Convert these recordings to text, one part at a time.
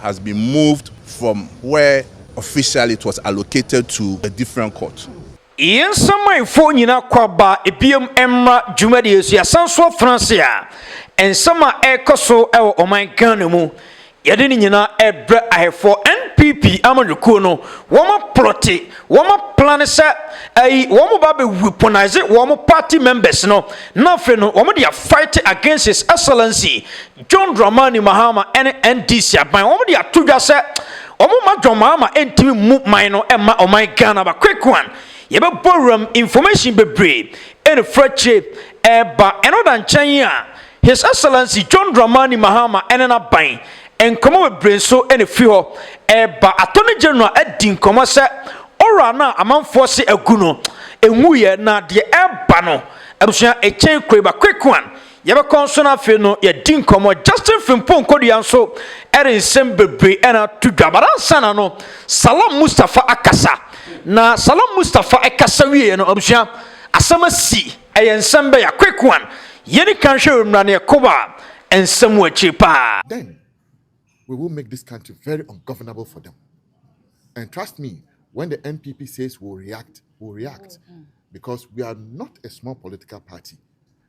has been moved from where officially it was allocated to a different court. Yɛn nsamanfoɔ nyinaa kɔ aba biom mmra dwumadie yi so. Yɛasan nso afena ase a nsɛm a ɛrekɔ so wɔ ɔman Ghana mu, yɛde ne nyinaa rebrɛ ahɛfoɔ NPP amanyɔkuo no. Wɔn aplɔte, wɔn aplane sɛ ɛyi wɔn ba bɛ weaponise wɔn party members no na afei no wɔn de afight against his excellency John Dramani Mahama ne NDC aban wɔn de ato dwa sɛ wɔn mma John Mahama ntumi mmu man no mma ɔman Ghana ba quick one yɛbɛbɔ wuram information bebree ɛne furakyire ɛreba ɛno da nkyɛn a His Excellency John Dramani Mahama ne n'aban nkɔmɔ bebree nso ɛne fi hɔ ɛreba Attorney General adi nkɔmɔ sɛ ɔwura no a amanfoɔ se agu no ɛnwuiɛ na deɛ ɛreba no abusua ɛkyɛn kuro ba quick one Yɛbɛkɔ nso no afei no yɛadi nkɔmmɔ Justin Frimpong Kodua nso ɛde nsɛm bebree ɛna ato dwa but ansa na no Salam Mustafa akasa na Salam Mustafa ɛkasa wieɛ no abusua asɛm asi ɛyɛ nsɛm bɛyɛ a quick one yɛni kan hwɛ wɔ mmra ne ɛkoba nsɛm wɔ akyiri paa. Then we will make this country very ungovernable for them and trust me when the NPP says we will react we will react because we are not a small political party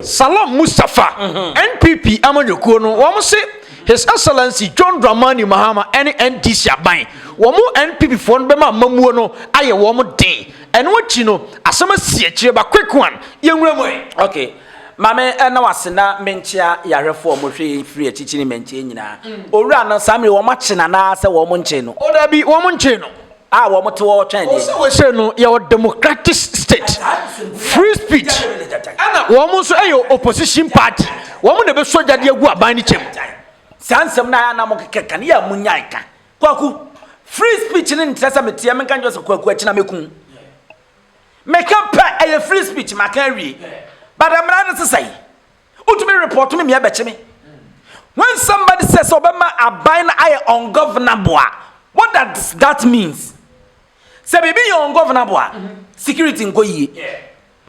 Salam Mustapha, NPP amanyɔkuo no, wɔn se His Excellency John Dramani Mahama ɛne NDC aban, wɔn NPP foɔ no bɛma amamuo no ayɛ wɔn den. Ɛno akyi no, asɛm asi akyire ba quick one, yɛnwura mu ɛ. Okay. Mame ɛna wase na menkyea yɛahwɛfoɔ a wɔhwɛ yɛn firi akyikyiri mɛnkyɛ nyinaa. Owura no saa mmerɛ wɔn akye no anaa sɛ wɔn nkyee no? O dabi, wɔn nkyee no. a wɔn te wɔ twɛn deɛ. wɔn sɛ no yɛwɔ democratic state free speech ɛna wɔn nso yɛ opposition party wɔn na ɛbɛsɔ gyadeɛ agu aban no kyɛm. saa nsɛm no ayɛ na mo kekɛ ka ne yɛ a mo nyae ka kwaku free speech ne nkyerɛ sɛ meteɛ menka nkyerɛ sɛ kwaku akyina mɛku meka pɛ ɛyɛ free speech maka awie bada mmara no sesɛe wotumi report me mea bɛkye me when somebody says sɛ ɔbɛma aban no ayɛ ungovernable a what does that means sɛ biribi yɛ ungovernable a security nkɔ yie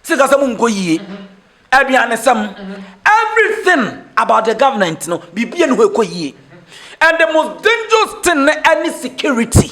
sikasɛm nkɔ yie aduanesɛm everything about the government no biribia ne hɔ ɛkɔ yie and the most dangerous thing ne ɛne security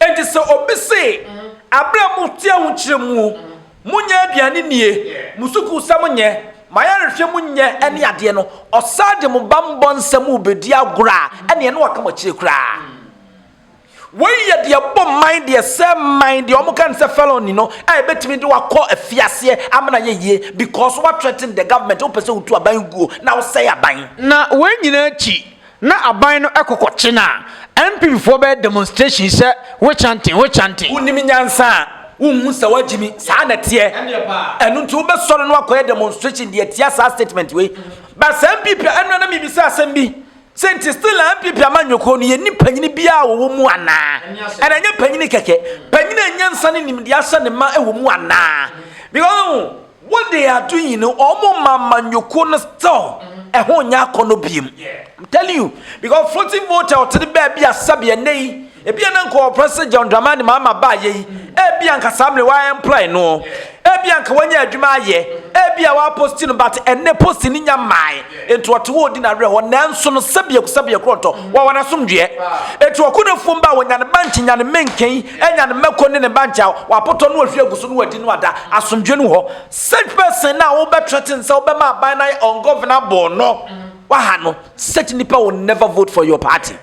Enti sɛ obi se, Bere a mote ahokyere mu, monyɛ aduane nnie, mo sukuusɛm nyɛ, mo ayarehwɛ mu nyɛ ne adeɛ no, ɔsan de mo bammɔ nsɛm rebɛdi agorɔ a, ɛnneɛ na waka mo akyire koraa. Wei yɛ deɛ ɛbɔ mman, deɛ ɛsɛe mman, deɛ wɔka no sɛ felony no, a ɛbɛtumi de wo akɔ afiaseɛ ama no ayɛ yie, because woathreaten the government, wopɛ sɛ wotu aban guo na wosɛe aban. Na wei nyinaa akyi, Na aban no kɔkɔ kye no a, NPP foɔ bɛyɛ demonstration sɛ we chanting, we chanting. Wonim nyansa a, wonhu sɛ wɔagye mi, saa na ɛteɛ. Ɛno nti wobɛsɔre na woakɔyɛ demonstration de atia saa statement wei. But sɛ NPP a, ɛno na mebisa asɛm bi. Sɛ nti still a NPP amanyɔkuo no, yɛnni panyini biara a wɔwɔ mu anaa? Ɛna ɛnyɛ panyini kɛkɛ, panyini a nyansa ne nimdeɛ ahyɛ ne ma wɔ mu anaa? Because. Wo de ado yi no ɔmo ma amanyɔkuo no still ɛho nyɛ akɔnɔ biem I'm telling you because floating voter ɔtene baa bi a sɛbi ɛnɛ yi ebi a na nka ɔpɛ sɛ John Dramani Mahama baa yɛ yi ebi a nka saa mmerɛ wa employ no ebi a nka wanya adwuma ayɛ ebi a wa post no but ɛnɛ post no nya mmae nti ɔte hɔ ɔdi n'awerɛ hɔ nanso no sɛbi ɛku sɛbi ɛkorɔ ntɔ wawa n'asomdweɛ etu ɔko na fuom ba wɔ nyane bank nyane menken anya ne mako ne ne bankye a wapotɔ na wahwie agu so na wadi no ada. Asomdwoe no wɔ hɔ. Such person no a wobɛthreaten sɛ wobɛma aban no ayɛ ungovernable no, waha no. Such nipa will never vote for your party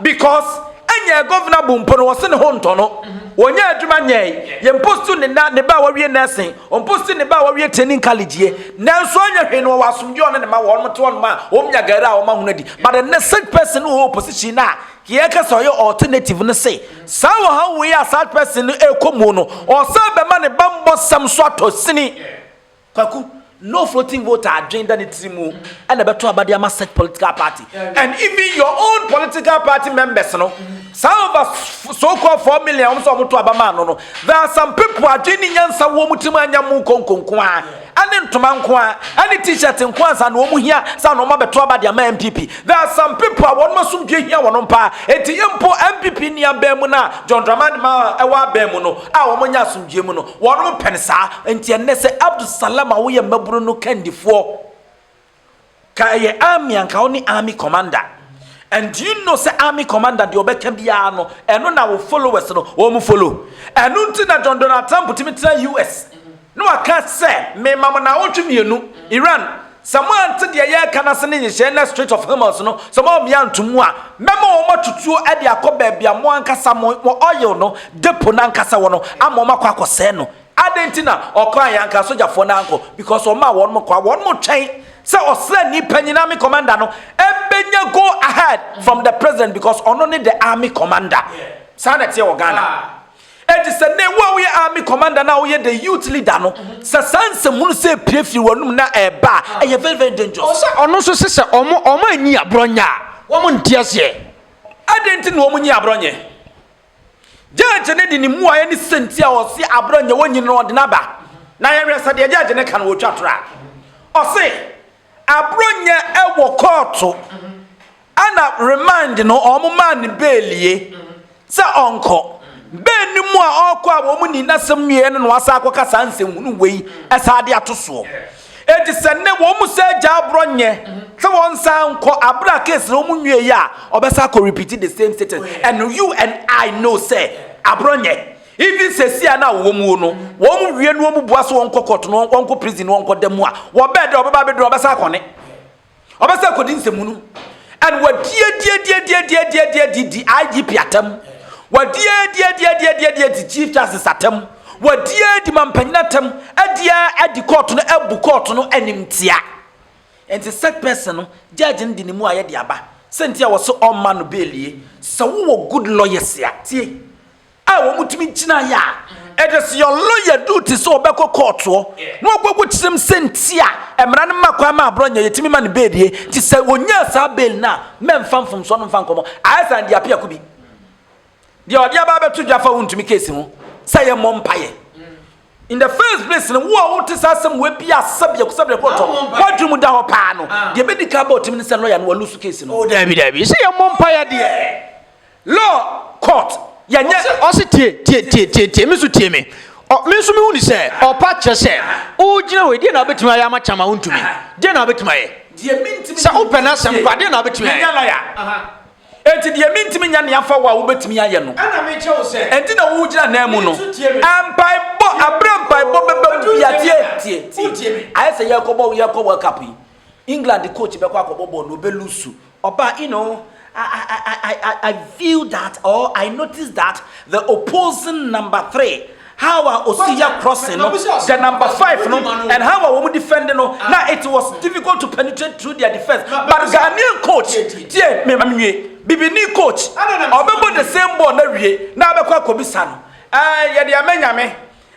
because ɛnyɛ governable mpo no wɔse ne ho ntɔ no. Wɔnyɛ adwuma nyɛe. Yɛmpostu ne na ne ba a wawie nursing, ɔmpostu ne ba a wawie training college yɛ. Nanso ɔnyɛ hwee no wɔwɔ asomdwoe ɔne ne ma wɔnom te hɔnom a wɔnya gari a wɔahunu adi. But ɛnnɛ such person no wɔ opposition no a yɛka sɛ ɔyɛ alternative no se Saa ɔhaw wei a saa person no rekɔ mu no, ɔsan bɛma ne bammɔsɛm nso atɔ sini. Kwaku, no floating vote adwene da ne tiri mu na ɛbɛto aba de ama such political party and even your own political party members no, saa over so called four million a wɔn sɛ wɔto aba maa no no, there are some people adwene ne nyansa wɔ wɔn tiri mu a ɛnyɛ mo nkonko nko ara. Ɛne ntoma nko ara, ɛne t-shirt nko ara ansa na wɔn hia saa na wɔn abɛto aba de ama NPP. There are some people a wɔn asomdwoe hia wɔn paa. Enti mpo NPP nni aban mu no a John Dramani Mahama ɛwɔ aban mu no a wɔn nyɛ asomdwoe mu no, wɔn pɛ no saa. Enti ɛnnɛ sɛ Abdul Salam a woyɛ mmabunu no kandifoɔ, Ka ɛyɛ army anka wo ne army commander and do you know sɛ army commander deɛ ɔbɛka biara no ɛno na wo followers no wɔn follow ɛno nti na John Donald Trump tumi tena US na waka sɛ mema mo na awotwe mmienu Iran sɛ mo ante deɛ yɛreka no ase ne nhyehyɛe na Strait of Hormuz no sɛ mo amia nto mu a mɛma wɔn atutuo de akɔ baabi a mo ankasa mo oil no depo no ankasa wɔ no ama wɔn akɔ akɔsɛe no Adɛn nti na ɔkɔ a yɛanka asogyafoɔ no ankɔ? Because ɔmaa wɔnom kɔ a wɔnom twɛn sɛ ɔsraani panyin, army commander, no bɛnya go ahead from the president because ɔno ne the army commander. Saa na ɛteɛ wɔ Ghana. Enti sɛ nnɛ wo a woyɛ army commander no a woyɛ the youth leader no, sɛ saa nsɛmhunu sei pue firi w'anom na ɛreba a, ɛyɛ very very dangerous. Ɔwɔ sɛ ɔno nso se sɛ wɔn wɔn anyi aborɔ nyɛ a, wɔn nte aseɛ. Adɛn nti na wɔn nyi aborɔ nyɛ? Gyɛɛgye no de ne mmuaeɛ ne sɛ nti a ɔse aberɛ nyɛ wɔnyini no ɔde no aba. Na yɛhwɛ sɛ deɛ gyɛɛgye no ka no ɔtwa torɔ a. Ɔse aberɛ nyɛ wɔ kɔɔto ɛna remand no wɔn maa no beelie sɛ ɔnkɔ. Bɛɛ no mu a ɔrekɔ a wɔn nii n'asɛm wieɛ no na wasan akɔka saa nsɛnhunu wei ɛsan de ato soɔ. Enti sɛ nnɛ wɔn mu sɛ agya aborɔ nyɛ sɛ wɔn nsan nkɔ abere a case na wɔn nwie yɛ a ɔbɛsa akɔ repeat the same sitting and you and I know sɛ aborɔ nyɛ even sɛsi a na wɔn mu no wɔn wie no wɔn bua so wɔn kɔ court no wɔn kɔ prison no wɔn kɔ da mu a wɔbɛɛ dɛ ɔbɛba abɛduru ɔbɛsa akɔ ne Ɔbɛsan akɔdi nsɛmmu no and wɔadiadiadiadiadiadiadiadi IGP atam, wɔadiadiadiadiadiadiadi Chief Justice atam, wɔadiadi mampanyin atam, adia adi kɔɔto no abu kɔɔto no animtia. Nti such person no, judge no de ne mu ayɛ de aba. Sɛ nti a wɔse ɔmma no bail nie. Sɛ wowɔ good lawyers a, tie. a wɔtumi gyinaeɛ a it is your lawyer duty sɛ ɔbɛkɔ kɔɔtoɔ na ɔkɔkɔ kyerɛm sɛ nti a mmara no ma kwan ma aborɔ nyɛ yɛtumi ma no beelie nti sɛ ɔnyaa saa bail no a mɛmfa mfomsoɔ no mfa nkɔmmɔ ayɛ saa deɛ apiako bi deɛ ɔde aba abɛto dwa fa wontumi keesi ho sɛ yɛ mmɔ mpaeɛ in the first place no wo a wote saa asɛm wɔabi asɛ biako sɛ biako tɔ woadwene mu da hɔ paa no deɛ bɛdi ka bɔ ɔtumi ne sɛ lɔya no walu so keesi no oh, daabi daabi sɛ yɛ mmɔ mpaeɛ deɛ Law court yɛ nyɛ. Ɔse ɔse tie tie tie tie tie me so tie me ɔ me nso me hu ni sɛ ɔpa kyerɛ sɛ wogyina wei deɛ na wobɛtumi ayɛ ama kyama wontumi deɛ na wobɛtumi ayɛ sɛ wopɛ na asɛm kwa deɛ na wobɛtumi ayɛ. Menya lawyer enti deɛ me ntumi nyɛ nea fa wo a wobɛtumi ayɛ no ɛna me kyɛ wo sɛ enti na wogyina nan mu no mpae bɔ abrɛ mpae bɔ bɛbɛ mu bia tie tie tie ayɛ sɛ yɛkɔ bɔ yɛkɔ world cup yi England coach bɛkɔ akɔbɔ bɔɔl na ɔbɛ lusu. Ɔbaa, you know, I, I, I, I, I, I feel that or I notice that the opposing number three, how a ɔsi yɛ crossing no, the number five no, and how a wɔn defend no, na it was difficult to penetrate through their defense. But Ghanaian coach, tie, me ma nwie, bibini coach, ɔbɛbɔ the same ball na wie, na abɛkɔ akɔbisa no, eh, yɛde ama nyame,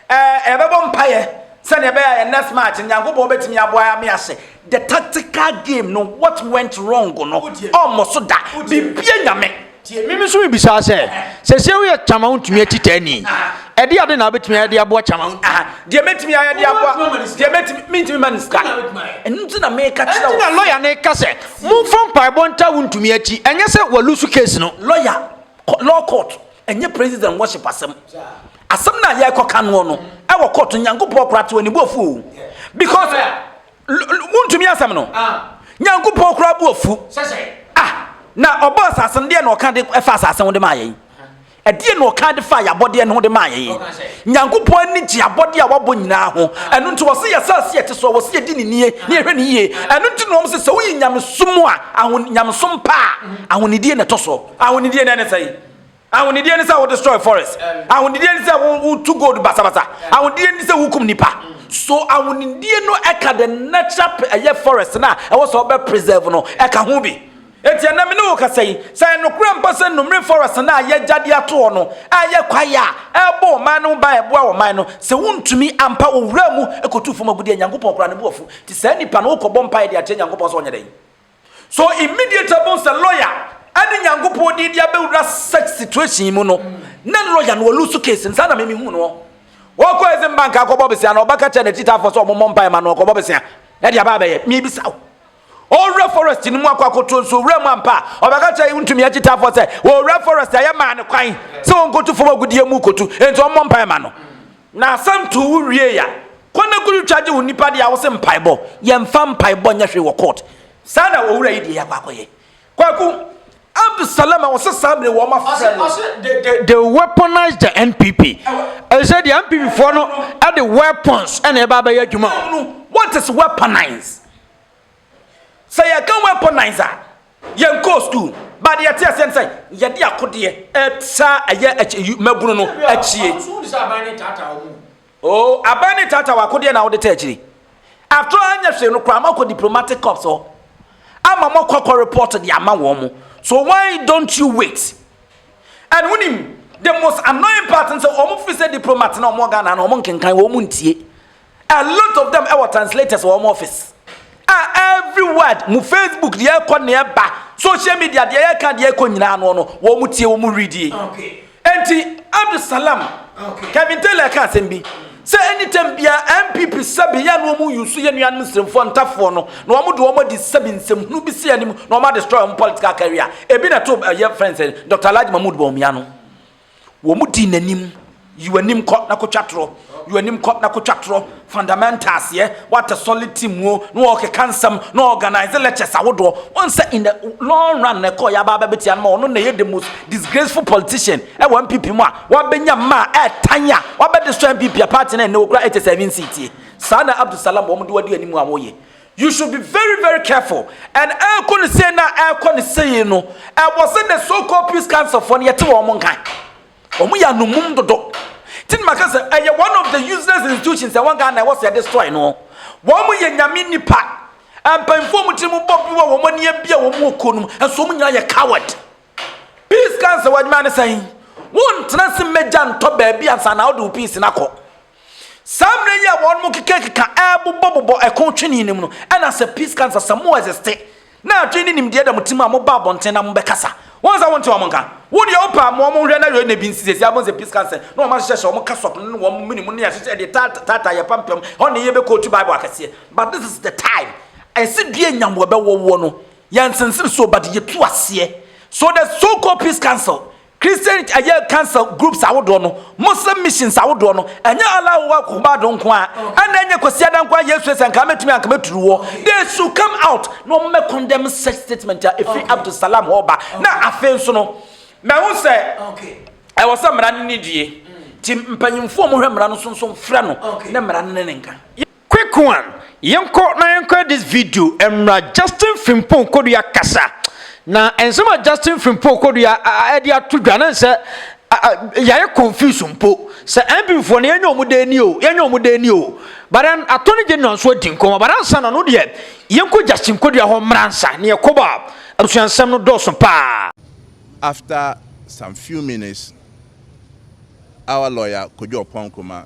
Eh, yɛbɛbɔ mpaeɛ sɛdeɛ ɛbɛyɛ a yɛ next match no Nyankopɔn bɛtumi aboa ame ase the tactical game no what went wrong no ɔmmɔ so da bibia nyame Mimi nso mebisa sɛ sɛsɛ woyɛ kyama wontumi atita ni ɛde ade na wobɛtumi ayɛ de aboa kyama deɛ mɛtumi ayɛ de aboa deɛ mɛtumi mentumi ma ne sika ɛno nti na meka kyerɛ wo na lɔya ne ka sɛ momfa mpaebɔ nta wontumi akyi ɛnyɛ sɛ walusu case no lɔya Kɔ law court. Ɛnyɛ praises and worship asɛm. Asɛm no a yɛrekɔka noɔ no ɛwɔ court no Nyankopɔn kora to ani bu afu o. Because wontumi asɛm no. Ah. Nyankopɔn kora bu afu. Ah, na ɔbɔ asase no deɛ na ɔka de ɛfa asase ho de maa yɛn. Ɛdeɛ na ɔka de fa yɛabɔdeɛ no ho de maa yɛn. Nyankopɔn ani gye abɔdeɛ a wabɔ nyinaa ho. Ɛno nti wɔse yɛ asase yɛte soɔ wɔse yɛdi ne nie ne yɛhwɛ ne yie. Ɛno nti na wɔn sɛ sɛ woyi nyamesom a ahon nyamesom paa ahonidie na ɛtɔ soɔ. Ahonidie na ɛne sɛn? Ahonidie ne sɛ wo destroy forest. Ahonidie ne sɛ wo tu gold basabasa. Ahonidie ne sɛ wo kum nipa. So ahonidie no ɛka the natural ɛyɛ forest na ɛwɔ sɛ ɔbɛ preserve no ɛka ho bi. Eti ɛnɛ me ne wo kasa yi sɛ ɛnokorɛ mpa sɛ numre forest na ayɛ gya de ato hɔ no ɛyɛ kwaeɛ a ɛbɔ ɔman no ho ban ɛboa ɔman no sɛ wo ntumi ampa owura mu ɛkɔtu fam agudeɛ Nyankopɔn kora ne bo afu ti saa nipa no wo kɔ bɔ mpaeɛ de akyerɛ Nyankopɔn sɛ ɔnyɛ dɛn So immediately bohu sɛ lawyer ɛne Nyankopɔn din de abɛwura such situation mu no na lawyer no ɔlusu case no saa na mimi hu no wɔkɔ Exim Bank akɔbɔ besia na ɔbɛka kyɛ n'akyitafoɔ sɛ ɔmomɔ mpae ma no ɔkɔbɔ besia ɛde aba abɛyɛ mebisa wo ɔwura forest no mu akɔ akɔto nso owura mu ampa a ɔbɛka kyɛ ntumi akyitafoɔ sɛ ɔwura forest a yɛmaa no kwan sɛ ɔnkɔtu fam agudeɛ mu kɔtu enti ɔmmɔ mpae ma no Na sɛ nto wo wiei a, kɔ na kɔ twitwa gye wo nnipa deɛ a wo se mpaebɔ, yɛmfa mpaebɔ nyɛ hwee wɔ court. Saa na owura yi deɛ yɛakɔ akɔyɛ. Kwaku, Abdu Salam a ɔse saa mmerɛ wei wɔn afrɛ no. Ɔse they weaponized the NPP. Ɛsɛ deɛ NPP foɔ no de weapons na ɛba abɛyɛ adwuma. What is weaponize? Sɛ yɛka weaponize a, yɛnkɔɔ school, but deɛ yɛte aseɛ no sɛ yɛde akodeɛ ɛsa ɛyɛ mmabunu no akyie. Oh, aban ne tata wɔ akodeɛ na wode ta akyiri. After all, anyɛ hwee no koraa ama kɔ diplomatic corps hɔ. Ama mo akɔ akɔ report de ama wɔn mo. So why don't you wait? And wonim, the most annoying part no sɛ wɔn fi sɛ diplomat na wɔn Ghana na wɔn nkenkan wɔn ntie. a lot of them ɛwɔ translators wɔ wɔn office a every word mu facebook deɛ ɛkɔ ne ɛba social media deɛ yɛka deɛ ɛkɔ nyinaa no no wɔn tie wɔn redie nti abdusalam kevin taylor ka asɛm bi sɛ anytime bia mpp sɛbi yɛ no wɔn yusu yɛ nuanom nsiremfoɔ ntafoɔ no na wɔn de wɔn adi sɛbi nsɛmhunu bi si anim na wɔn adestroy wɔn political career ebi na ɛto ɛyɛ friends dr alhaji mahmood bawumia no Wɔn dii n'anim. Yi w'anim kɔ na kɔtwa torɔ. Yi w'anim kɔ na kɔtwa torɔ. Fundamentals yɛ, what a solid team o, na wɔrekeka nsɛm, na wɔreorganise lectures ahodoɔ. Woahu sɛ in the long run na ɛkɔeɛ aba abɛbɛtia no ma ɔno na ɛyɛ the most disgraceful politician wɔ NPP mu a wabɛnya mmaa ɛɛtan a wabɛde sɔ NPP a party no a ɛnnɛ wɔkura ɛkyɛ sɛ ɛnwe nsiitie. Saa na Abdulsalam wɔn de wadi anim a wɔyɛ. You should be very very careful and ɛɛkɔ ne sei na ɛɛkɔ ne sei no ɛwɔ sɛ the so called peace council foɔ no yɛte wɔn nka wɔn yɛ anomum dodo ti na maka sɛ ɛyɛ one of the useless institutions ɛwɔ Ghana ɛwɔ sɛ ɛde sɔe no wɔn yɛ nyame nipa mpanyinfoɔ mu tiri mu bɔ bi wɔ wɔn ani abia wɔn wɔ kuo no mu nso wɔn nyinaa yɛ coward peace council wɔn adwuma ne sɛn wɔn ntena se mmegya ntɔ baabi ansa na ɔde wo peace na kɔ. Saa mmerɛ yi a wɔnom rekekakeka rebobɔbobɔ ɛko twene no mu no, ɛna Sir Peace ka no sɛ, Sɛ mo existe, na adwene ne nimdeɛ da mo tirim a, moba abɔnten na mobɛkasa. Wohu sɛ wonte wɔn nka. Wo deɛ wopɛ a, moa wɔn nhwɛ na yɛnna bi nsi. Seesei abom Sir Peace ka no sɛ, na wɔn ahyehyɛ hyɛ wɔn kasɔk no ne wɔn mene mu ne ahyehyɛ de taataa yɛn pampam, ɛhɔ na yɛbɛ quote Bible akɛseɛ. But this is the time ɛsɛ dua nya mmoa bɛwɔwoɔ no, yɛnsensene so, but yɛtu aseɛ. So the so called Peace Council Christian ɛyɛ council groups ahodoɔ no, Muslim missions ahodoɔ no, ɛnyɛ Allahu Akbar do nko ara, ɛna ɛnyɛ Kwasiada nko ara Yesu yɛ sɛ anka mɛtumi anka mɛturu woɔ, they should come out na wɔn mɛ condemn such statement a ɛfiri Abdul Salam hɔ reba, na afei nso no mɛhu sɛ ɛwɔ sɛ mmara no ne die, nti mpanyinfoɔ a wɔhwɛ mmara no so nso mfrɛ no ne mmara no ne ne nka. Quick one, yɛnkɔ na yɛnkɔyɛ this video mmra Justin Frimpong Kodua kasa na nsɛm a Justin Frimpong Kodua ɛde ato dwa na nsɛ yɛayɛ confuse mpo sɛ NPP foɔ no yɛnyɛ wɔn dɛn ni o yɛnyɛ wɔn dɛn ni o but then Attorney General nso adi nkɔmɔ but ansa na no deɛ yɛnkɔ Justin Kodua hɔ mmra nsa na yɛkɔ bɔ a abusua nsɛm no dɔɔso paa. After some few minutes our lawyer Kojo Oppong Nkrumah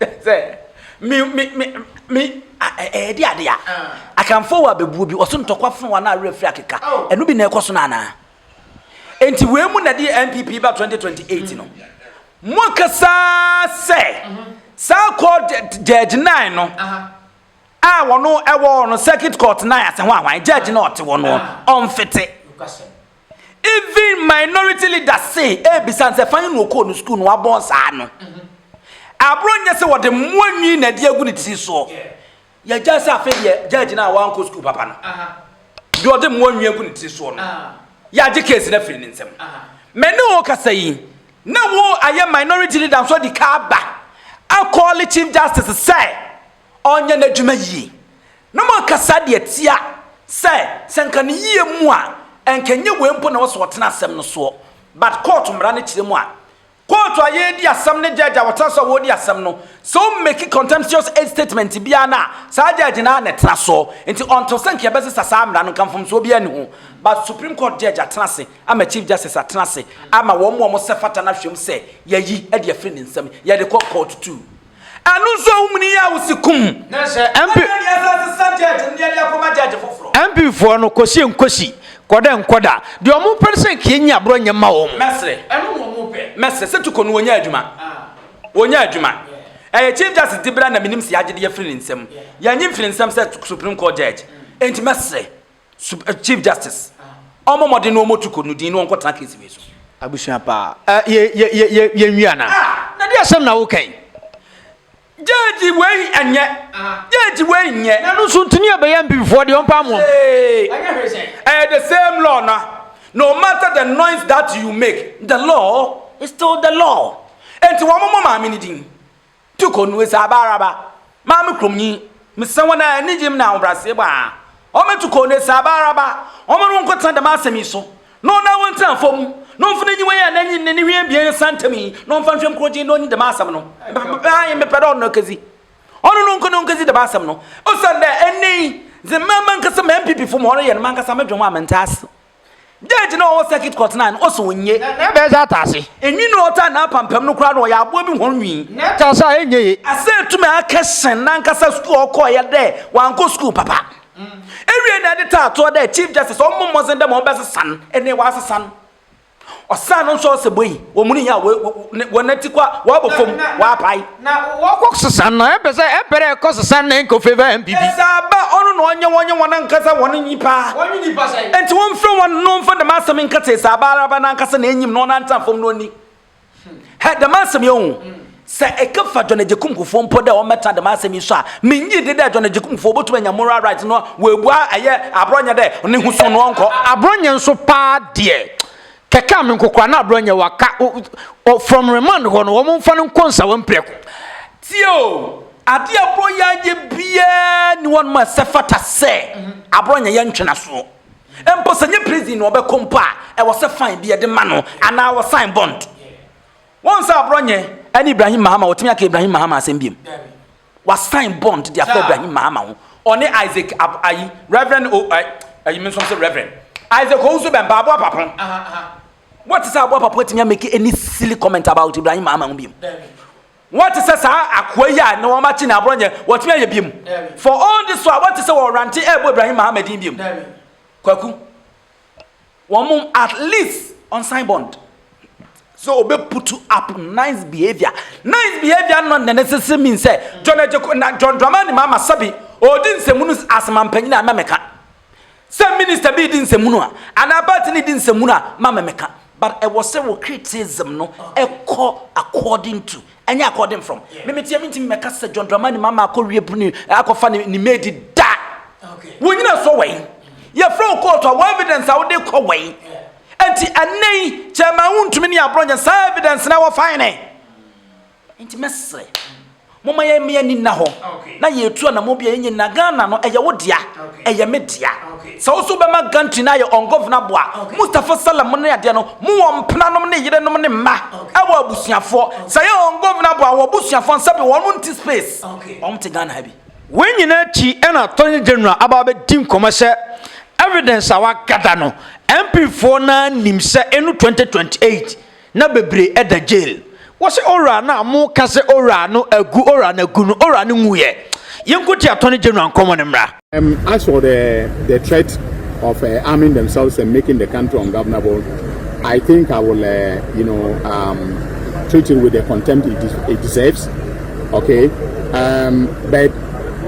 Sɛ me me me me ɛyɛ de ade a akanfoɔ wɔ abɛbuo bi ɔso ntɔkwa fo wɔn a werɛ firi akeka ɛno bi na ɛkɔ so no anaa enti wei mu na de NPP ba 2028 no mo kasa sɛ saa kɔ judge 9 no a wɔn ɛwɔ no circuit court 9 ase ho ahwan judge na ɔte wɔn ɔmfete Even minority leaders say ebisa sɛ fan no okoo no school no wabɔn saa no. Abro nyɛ sɛ wɔde mmoa nwi na ɛde agu ne tiri soɔ. Yɛgyae sɛ afei deɛ judge no a wankɔ school papa no deɛ ɔde mmoa nwi agu ne tiri soɔ no yɛagye case no afiri ne nsam. Me ne wo kasa yi na wo ayɛ minority leader nso de ka aba akɔɔle chief justice sɛ ɔnyɛ n'adwuma yie. Na moaka saa de atia sɛ sɛ nka ne yie mu a nka ɛnyɛ wei mpo na ɛwɔ sɛ ɔtena asɛm no soɔ but kɔɔto mmara no kyerɛ mu a kɔɔto a yɛredi asɛm ne judge a ɔtena so a wɔredi asɛm no sɛ wo make contemptuous age statement biara no a saa judge no ara na ɛtena soɔ nti ɔnto sɛ nka yɛbɛsesa saa mmara no nka mfomsoɔ biara nni ho but supreme court judge atena ase ama chief justice atena ase ama wɔn mu a wɔn sɛ fata no ahwɛ mu sɛ yɛyi de afiri ne nsam yɛde kɔ kɔɔto two Ɛno nso ahum no yɛ awosi kum. MP foɔ no kɔsie nkɔsi kɔda nkɔda deɛ ɔmo pɛ no sɛ nka yɛnyi aborɔ nyɛ mma wɔn. Mɛsrɛ mɛsrɛ sɛ Tuko no wɔnya adwuma wɔnya adwuma ɛyɛ Chief Justice de bra na menim sɛ yɛagye de afiri ne nsam yɛnye mfiri ne nsam sɛ Supreme Court Judge enti mɛsrɛ Chief Justice, ɔmmɔ mmɔden na ɔmmɔtu kɔ no din na ɔnkɔtena case wei so. Abusua pa. Uh, ye, ye, ye, ye, ye nwi ana. Ah, na di asem na woka yi. Jeji wei enye. Jeji wei enye. Na no so ntini abeye mpimfoɔ de ɔmpa mo. Anya hwe sen. Eh, the same law na. No matter the noise that you make, the law is still the law. Enti wɔn mo maame ne din. Tu kɔ nue saa baaraba, maa me kurom nyi, mesɛ wɔn a anigye mu na ahobrɛaseɛ bɔ a, wɔmmɛtu kɔ nue saa baaraba, wɔn no nkɔtena dɛm asɛm yi so, na wɔn a wɔntena afɔ mu, na wɔmfa n'aniwa yi anaa ne ne hwene abien nsa ntam yi, na wɔmfa nhwɛ nkuro gyen na wɔnyi dɛm asɛm no. Ae, mepɛ dɛ ɔno na ɔkɛdzi. Ɔno no nkɔ na ɔnkɛdzi dɛm asɛm no, osiandɛ ɛnnɛ yi, dze mma mankasa m'MPPfo ma wɔreyɛ no, mankasa modwen ho a menntse ase. Judge na ɔwɔ circuit court na no ɔsɛ onye. Na ɛbɛyɛ sɛ ataase. Enwi na ɔtaa na apampam no koraa no ɔyɛ aboa bi hɔn nwi. Na ɛtaase a ɛnyɛ ye. Asɛ etumi akɛ sen nankasa sukuu a ɔkɔɔyɛ dɛ wankɔ sukuu papa. Ewiei na ɛde taa toɔ dɛ Chief Justice ɔmmɔ mmɔdzen dɛ ma ɔbɛsesa no, ɛnee ɔasesa no. Ɔsan no nso ɔsɛ boi, wɔmuni yɛ a wɔnati kwa, wɔabɔ fam, wɔapae. Na wɔkɔ sesa no, ɛmpɛ sɛ ɛmpɛ dɛ ɛkɔ sesa na ɛnkɔ favor NPP. Ɛsaaba ɔno na ɔnyɛ wɔn nyɛ wɔn ankasa wɔn nyipa. Wɔn nye nyipa sɛn? Ɛnti wɔn fre wɔn na ɔnfa dɛm asɛm nka tse Ɛsaaba araba no ankasa na enyim na ɔnantsa fam na ɔnni hɛ dɛm asɛm yi oho. Sɛ ɛka fa John Agyekum Kufuor mpo dɛ ɔmmɛtena dɛm asɛm yi so a, minnye nndi dɛ John Agyekum Kufuor obotum anya moral right na ɔabua ɛyɛ abrɔnyɛ dɛ ne ho su no ɔnkɔ. Abrɔnyɛ nso paa deɛ, Kɛkɛ me nkokora na abrɔ nyɛ waka o from remand hɔ no wɔn nfa no nkɔ nsawa mprɛko. Tie o, adeɛ a abrɔ yɛ ayɛ biara ni hɔ nom a ɛsɛ fata sɛ abrɔ nyɛ yɛ ntwe nasoɔ. Mpo sɛ nyɛ prison na ɔbɛkɔ mpo a ɛwɔ sɛ fine bi yɛde ma no anaa wɔ sign bond. Wɔn sɛ abrɔ nyɛ ɛne Ibrahim Mahama wɔtumi aka Ibrahim Mahama asɛm biom. Wasign bond de afa Ibrahim Mahama ho. Ɔne Isaac ab ayi Reverend o ayi ayi me nso se Reverend. Isaac Owusu bɛn ba aboa papo. Wɔte sɛ aboa papo atumi amake any silly comment about Ibrahim Mahama ho biom. Wɔte sɛ saa akoa yi a na wɔn akye na aborɔ nyɛ wɔtumi ayɛ biom. For all this while wɔte sɛ wɔrante ɛbɔ Ibrahim Mahama din biom. Kwaku. wɔn at least ɔnsan bond sɛ ɔbɛ putu up nice behavior nice behavior no na ne sese min sɛ John Ejeko na John Dramani Mahama sɛbi ɔdi nsɛmunu asoma mpanyin a mɛmɛka sɛ minister bi di nsɛmunu a anaa party ni di nsɛmunu a ma mɛmɛka But ɛwɔ sɛ wo criticism no kɔ according to ɛnyɛ according from. Me me teɛ mentimi mɛka sɛ John Dramani Mahama akɔ wie bruni akɔfa ne ne maid da. Wo nyina so wɛn? Yɛfrɛ wo court a wɔ evidence a wode kɔ wɛn? Ɛnti ɛnnɛ yi chairman wontumi ne aborɔnyɛ saa evidence na ɛwɔ fine. Nti mɛsrɛ mo ma yɛn mmeɛ ni nna hɔ na yɛn tu anamɔ bi a yɛnyɛ nyina Ghana no ɛyɛ wo dea ɛyɛ me dea sɛ wo so bɛma gantry no ayɛ ungovernable a Mustafa Salam mo ne adeɛ no mo wɔ mpena nom ne yere nom ne mma ɛwɔ abusuafoɔ sɛ yɛ ungovernable a wɔ busuafoɔ nsa bi wɔn nti space wɔn te Ghana ha bi. Wei nyina akyi ɛna Attorney General aba abɛ di nkɔmɔ sɛ evidence a wa gada no MP foɔ no ara nim sɛ ɛnu 2028. Na bebree ɛda jail wɔse owura no a mo ka sɛ owura no agu owura no agu no owura no nwu yɛ yɛn ko ti atɔne general nkɔmɔ no mmra. Um as for the the threat of uh, arming themselves and making the country ungovernable, I think I will uh, you know um, treat it with the contempt it, des it deserves. Okay, um, but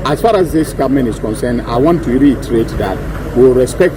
as far as this government is concerned, I want to reiterate that we will respect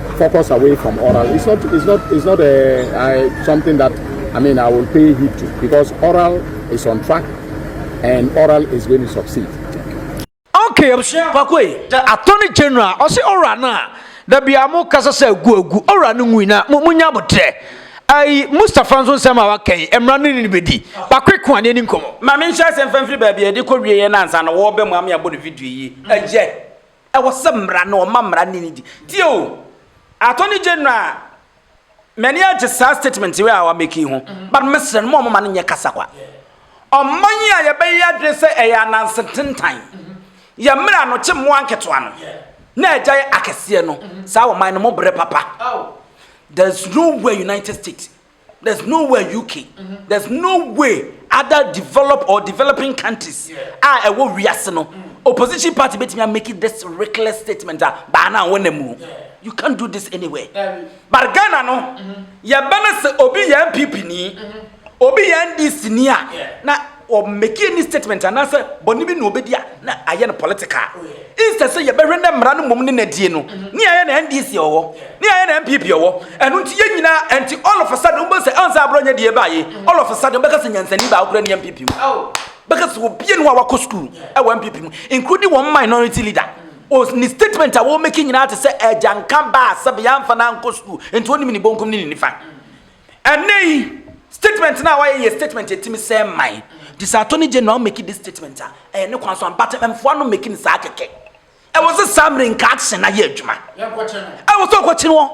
focus away from oral it's not it's not it's not a, uh, a uh, something that I mean I will pay heed to because oral is on track and oral is going to succeed. Okay, Pakwe, the Attorney General, I say oral now. The biamo kasa sɛ gu agu ɔwura no ngui na mo mo nya botrɛ ayi mustapha nso nsɛm a waka yi mmara no ne bɛdi bakwe ko adeɛ ne nkɔmmɔ ma menhyɛ asɛm fa mfiri baabi a ɛde kɔ wieɛ no ansa na wɔbɛ mu ame abɔ no video yi ɛyɛ Ɛwɔ sɛ mmara no ɔma mmara no nidi. Tie o, Attorney General, m'ani agye saa statement wei a wamake yi ho, but mesrɛ no ma ɔmoma no nyɛ kasa kwa. Ɔman yi a yɛbɛyɛ adwene sɛ ɛyɛ ananse tentan, yɛ mmerɛ anokye mmoa nketewa no, na agyae akɛseɛ no, saa ɔman no mo brɛ papa. There's no way United States there's no way uk mm-hmm. there's no way other developed or developing countries a ɛwɔ wiase no mm. opposition party betumi a make this reckless statement a baa na wɔn na mu you can't do this anywhere but ghana no mm-hmm. yɛbɛ no sɛ obi yɛ npp ni mm-hmm. obi yɛ ndc ni a na. Ɔ make any statement anaasɛ bɔne bi na ɔbɛdi a na ayɛ no political. Instead sɛ yɛbɛhwɛ na mmara no mmom ne nadie no, ne ayɛ na NDC ɔwɔ, ne ayɛ na NPP ɔwɔ. Ɛno nti yɛn nyinaa, ɛnti all of a sudden wobɛhu sɛ ɛwɔ sɛ abrɔ nyɛ deɛ ɛbaa yei, all of a sudden wobɛka sɛ nyansani baako koraa ni NPP mu. Bɛka sɛ obia ni hɔ a wakɔ school ɛwɔ NPP mu, including wɔn minority leader. Ɔ ne statement a ɔ make nyinaa te sɛ agyanka baa sɛbe yɛamfa no ankɔ school nti ɔnnim ne bonkum ne ne nifa. Ɛnnɛ yi, statement no a wayɛ yɛ statement ɛtumi sɛ man. Nti sɛ attorney general make this statement a, ɛyɛ ne kwan so but mmfoa no make no saa kɛkɛ. Ɛwɔ sɛ saa mmerɛ nka action ayɛ adwuma. Ɛwɔ sɛ ɔkɔkye no hɔ.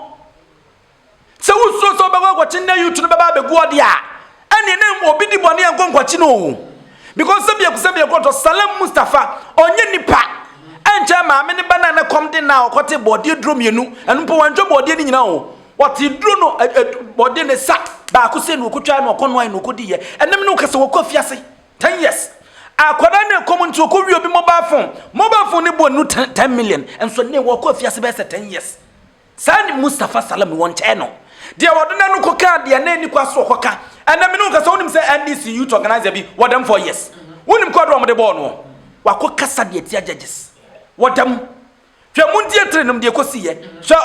Sɛ wosuro sɛ ɔbɛkɔ akɔkye nnɛ youth no bɛba abɛgu ɔde a, ɛneɛ ne obi di bɔne ɛnkɔ nkɔkye no o. Because sɛ biaku sɛ biaku ɔtɔ Salem Mustafa, ɔnyɛ nipa. Ɛnkyɛ maame ne ba na ne kɔm de na ɔkɔte bɔɔdeɛ duro mmienu, ɛno mpo wantwa bɔɔdeɛ no nyina o. Wɔtee duro no Ɔde ne sa baako sei na ɔkɔtwae na ɔkɔnoae na ɔkɔdiiɛ. Ɛnna me ne wo ka sɛ wɔkɔ afiase ten years. Akwadaa no rekɔ mu nti ɔkɔwie obi mobile phone. Mobile phone no boɔ nnuru ten ten million. Nso nnɛ wɔkɔ afiase bɛyɛ sɛ ten years. Saa ne Mustapha Salam no wɔnkyɛɛ no. Deɛ wɔde no no kɔkaa deɛ na ɛni kwa so ɔkɔka. Ɛnna me ne wo ka sɛ wonim sɛ NDC youth organiser bi wɔ dɛm four years. Wonim kɔɔdo a wɔde bɔɔ no? Wakɔkasa de atia judges wɔ dɛm. Hwɛ, mundie tiri nom deɛ kɔsiiɛ. Hwɛ,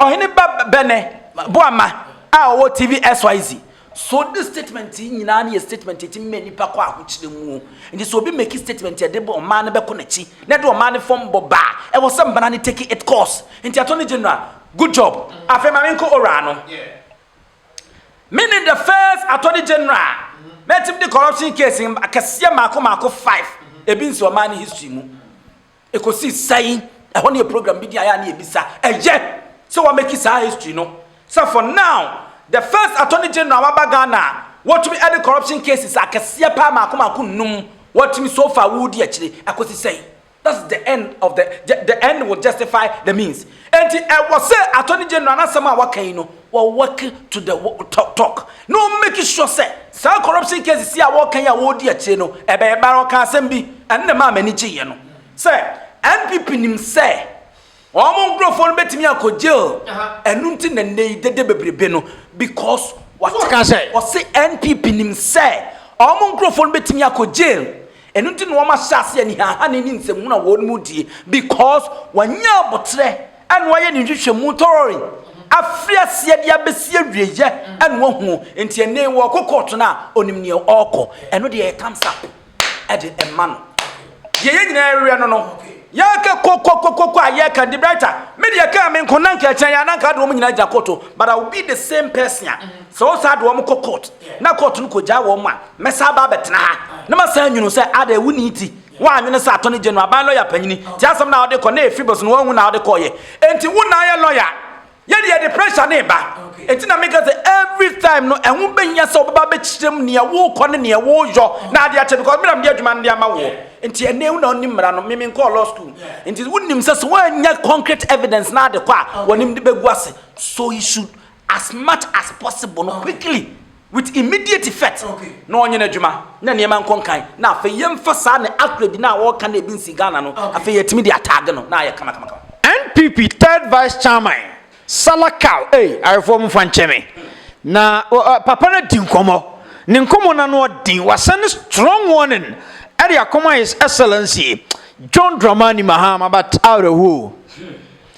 ɔhene ba bɛnɛ boama a ɔwɔ TV SYZ. So this statement yi nyinaa ne yɛ statement a ɛtumi ma nnipa kɔ ahokyerɛ mu. Nti sɛ obi make statement a ɛde ɔman no bɛkɔ n'akyi na ɛde ɔman no fam bɔ ba a, ɛwɔ sɛ mmara no take it course. Nti Attorney General, good job. Afei ma menkɔ Owura no. Me ne the first Attorney General mɛtumi de corruption case akɛseɛ mmaako mmaako five ebi nsi ɔman no history mu. Ɛkɔsi sɛn? Ɛhɔ no yɛ program bi di a yɛ a na yɛbisa. Ɛyɛ sɛ wɔamɛki saa history no sɛ for now the first attorney general a waba Ghana a wɔtumi de corruption cases akɛseɛ paa mmaako mmaako nnum wɔatumi so far wodi akyire. Ɛkɔsi sɛn? That's the end of the, the end will justify the means. Enti ɛwɔ sɛ Attorney General no asɛm a waka yi no, wɔ work to the talk na ɔ make sure sɛ saa corruption cases yi a wɔreka yi a wɔredi akyire no, ɛbɛyɛ bɛn. Ɔkaa asɛm bi, ɛno na ɛmaa m'ani gyeeɛ no, sɛ NPP nim sɛ wɔn nkurɔfoɔ no bɛtumi akɔ jail, ɛno nti na nnɛ yi dede bebrebe no because wɔte, ɔse NPP nim sɛ wɔn nkurɔfoɔ no bɛtumi akɔ jail. Ɛno nti na wɔahyɛ ase anihahane ne nsɛmhunu a wɔn mu die because wɔanya aboterɛ na wɔayɛ ne nhwehwɛmu thoroughly afiri aseɛ de abɛsi awieɛ na wɔahunu nti ɛnnɛ yi wɔkɔ court no a ɔnim neɛ ɔrekɔ ɛno deɛ yɛ thumbs up ɛde ɛma no deɛ yɛ nyinaa ɛreɛ no no yɛka kokokokoko a yɛka de brighter me deɛ kaa me nko na nka ɛkyɛn yɛ ananka de wɔn nyinaa gyina koto but I will be the same person a Sɛ wɔn saa de wɔn kɔ court na court no kɔgyaa wɔn a, mɛsan aba abɛtena ha na masan nwunu sɛ adɛn wo ni ti woannwene sɛ Attorney General, aban lɔya panyini, te asɛm no a wode kɔ na ɛfi bos no wanhu na wode kɔɔyɛ. Enti wo na ayɛ lɔya. Yɛ deɛ yɛde pressure no reba. Enti na meka sɛ every time no ɛho bɛhia sɛ wobɛba abɛkyerɛm nea worekɔ ne nea woreyɔ na ade akyɛ because me na mede adwuma no de ama woɔ. Enti ɛnɛ wo na wonim mmara no, me menkɔɔ law school. Enti wonim sɛ sɛ woannya concrete evidence na ade kɔ a wɔnim de bɛgu ase. So he should as much as possible no quickly with immediate effect na ɔnyɛ n'adwuma na nneɛma nkɔ nkan na afei yɛmfa saa ne acrid no a wɔreka no ebi nsi Ghana no afei yɛatumi de ataage no na ayɛ kamakamakama. NPP third vice chairman Salah Cow ei ayefoɔ momfa nkyɛ me na papa no adi nkɔmmɔ ne nkɔmmɔ no ano ɔden wasan ne strong warning ɛde akɔma his excellency John Dramani Mahama but awerɛhoɔ o.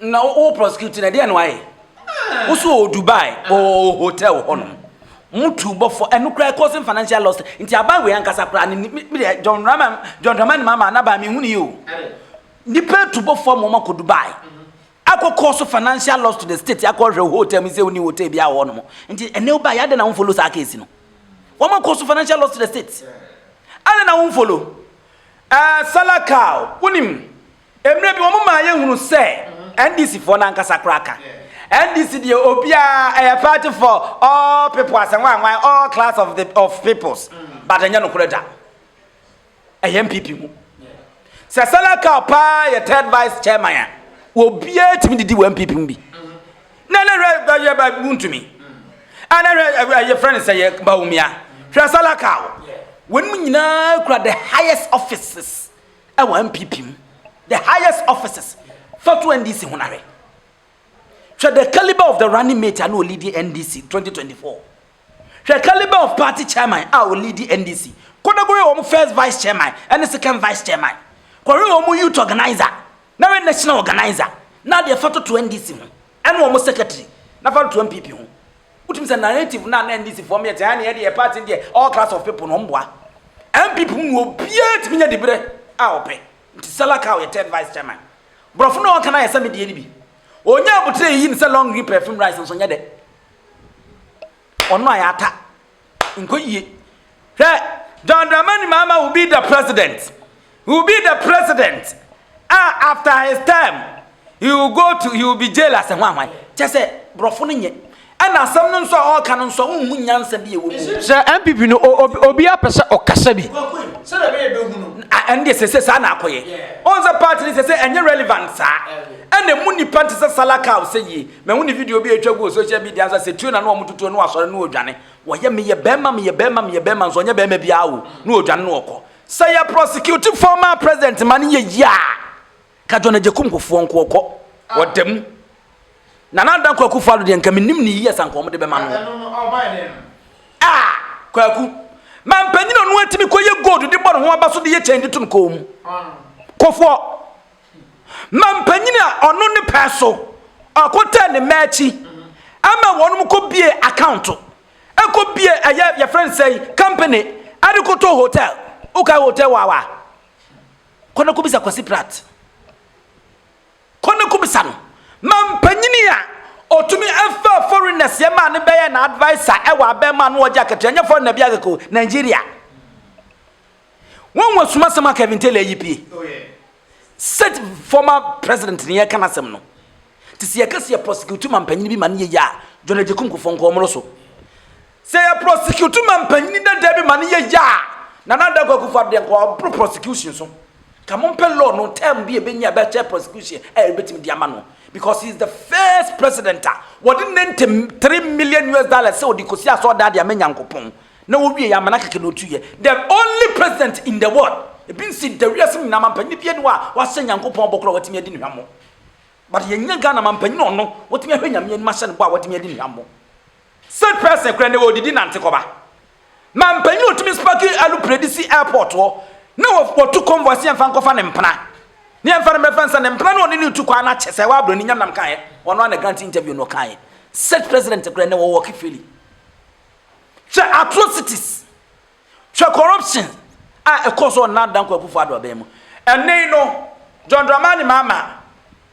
Na wo wo prosecute na deɛ na wayɛ wo so wɔ Dubai wɔ hotel hɔ nom mo tu bɔfɔ ɛno koraa causing financial loss nti aban wei ankasa koraa ne me deɛ John Dramani John Dramani mama n'aban mi nhuni yi o nipa tu bɔfɔ mo ma kɔ Dubai akɔ cause financial loss to the state akɔ hwɛ hotel mi sɛ oni hotel bi ahɔ nom nti ɛnɛ ɔba yɛ adɛ na wɔn follow saa case no wɔn ma cause financial loss to the state adɛ na wɔn follow ɛɛ eh, salakal wonim. Mmerɛ bi wɔn maa yɛ hunu sɛ NDC foɔ no ankasa koraa ka. NDC deɛ obiara ɛyɛ party for all people asɛ nwan nwan all class of the of peoples but ɛnyɛ nokorɛ da. Ɛyɛ NPP mu. Sɛ Sala Cow paa yɛ third vice chairman a obiara tumi didi wɔ NPP mu bi. Na na hwɛ bɛyɛ bɛ wuntumi. Ana hwɛ ɛyɛ friend sɛ yɛ Bawumia. Hwɛ Sala Cow. Wɔn nyinaa kura the highest offices. Ɛwɔ NPP mu the highest offices fa to NDC ho na hwɛ. Hwɛ the caliber of the running mate a na ɔlidi NDC 2024. Hwɛ caliber of party chairman a ɔlidi NDC. Kɔ na kɔhwɛ wɔn first vice chairman ɛne second vice chairman. Kɔhwɛ wɔn youth organiser na hwɛ national organiser na deɛ fa to to NDC ho. Ɛne wɔn secretary na fa to NPP ho. Wotumi sɛ narrative no a na NDC foɔ meyɛ te ha ne yɛde yɛ party no deɛ all class of people no wɔn boa. NPP mu obiara tumi nya diberɛ a ɔpɛ. Nti Sala Kaw yɛ third vice chairman. Borɔfo no a ɔka no ayɛ sɛ me deɛ no bi. Ɔnya abotire yiyi no sɛ long green perfume rice nso nyɛ dɛ. Ɔno a yɛata Nkɔ yie. Hwɛ, John Dramani Mahama will be the president. He will be the president. Ah, after his term, he will go to, he will be jail as a hwanhwan. Kyɛ sɛ, borɔfo no nyɛ. Ɛna asɛm no nso a ɔreka no nso a, wonhu nyansa bi a ɛwɔ mu. Sɛ NPP no, obi apɛ sɛ ɔkasa bi. Sɛdeɛ ɛbɛyɛ bɛhu no. Ɛno deɛ sɛ sɛ saa na akɔyɛ. Ɔhu sɛ party no sɛ sɛ ɛnyɛ relevant saa. Ɛna mu nipa nte sɛ Salakau sɛ yie. Mahu ne video bi a etwa gu wɔ social media ansa sɛ tue na na wɔtoto no na wasɔre na ɔredwane. Wɔyɛ meyɛ barima meyɛ barima meyɛ barima nso ɔnyɛ barima biara o na ɔredwane na ɔkɔ. Sɛ yɛ prosecute former president ma no yɛ yie a ka John Agyekum Kufuor nko ɔkɔ. Ɔda mu. Nana Dankwa Akufo Addo deɛ nka menim no yie sɛ anka wɔde bɛma no. Ah! Kwaku. Mampanyin a ɔno atumi kɔyɛ gold de bɔ ne ho aba so de yɛ kyɛn de to ne kɔn mu. Kufuor. Mampanyin a ɔno ne pɛ so ɔkotɛɛ ne mma akyi ama wɔnom kɔ bie akaonto, ɛkɔ bie ɛyɛ yɛfrɛ no sɛn company ɛde kotoo hotel, wokae hotel wawa a, kɔ na kɔbisa Kwasi Pratt, kɔ na kɔbisa no, mampanyin a ɔtumi ɛfa foreigners yɛ maa no bɛyɛ na adviser ɛwɔ abɛɛmaa no ɔgye akatua, nyɛ foreigner biara kɛkɛ o, Nigeria. Wɔn wɔ suma sɛm a Kevin Taylor ayi pie. Sɛ former president ne yɛka n'asɛm no. Te sɛ yɛka sɛ yɛ prosecute ma mpanyin bi ma ne yɛyɛ a, John Agyekum Kufuor nka ɔmmoro so. Sɛ yɛ prosecute ma mpanyin dada bi ma ne yɛyɛ a, Nana Addo Akua Kufuor deɛ nka ɔboro prosecution so. Ka mompɛ law no term bi a ɛbɛnya ɛbɛkyɛ prosecution a ɛbɛtumi de ama no. Because he is the first president a wɔde 93 million US dollars sɛ ɔde kɔsi asɔɔdan de ama Nyankopɔn. Na wowie yɛ amena kɛkɛ na otu yɛ the only president in the world ebi nsi da wiase mu nyinaa mampanyin bi ɛni hɔ a wahyɛ nyankopɔn bɔ koro a watumi adi no hwammɔ but yɛ nyɛ Ghana mampanyin ɔno watumi ahwɛ nyame anim ahyɛ no bɔ a watumi adi no hwammɔ state person kura na odidi nante kɔba mampanyin otumi spaki alupredi si airport hɔ na wɔtu convoy si yɛmfa nkɔfa ne mpena ne yɛmfa no mɛfa nsa ne mpena na ɔne ne tu kwan na kyɛ sɛ wabro ne nyam nam kaeɛ ɔno ana grant interview no ɔkaeɛ state president kura na wɔwɔ kifili Hwɛ atrocities, hwɛ corruption a ɛkɔɔ so wɔ Nana Dankwa Akufo-Addo abɛn mu. Ɛnnɛ yi no, John Dramani Mahama,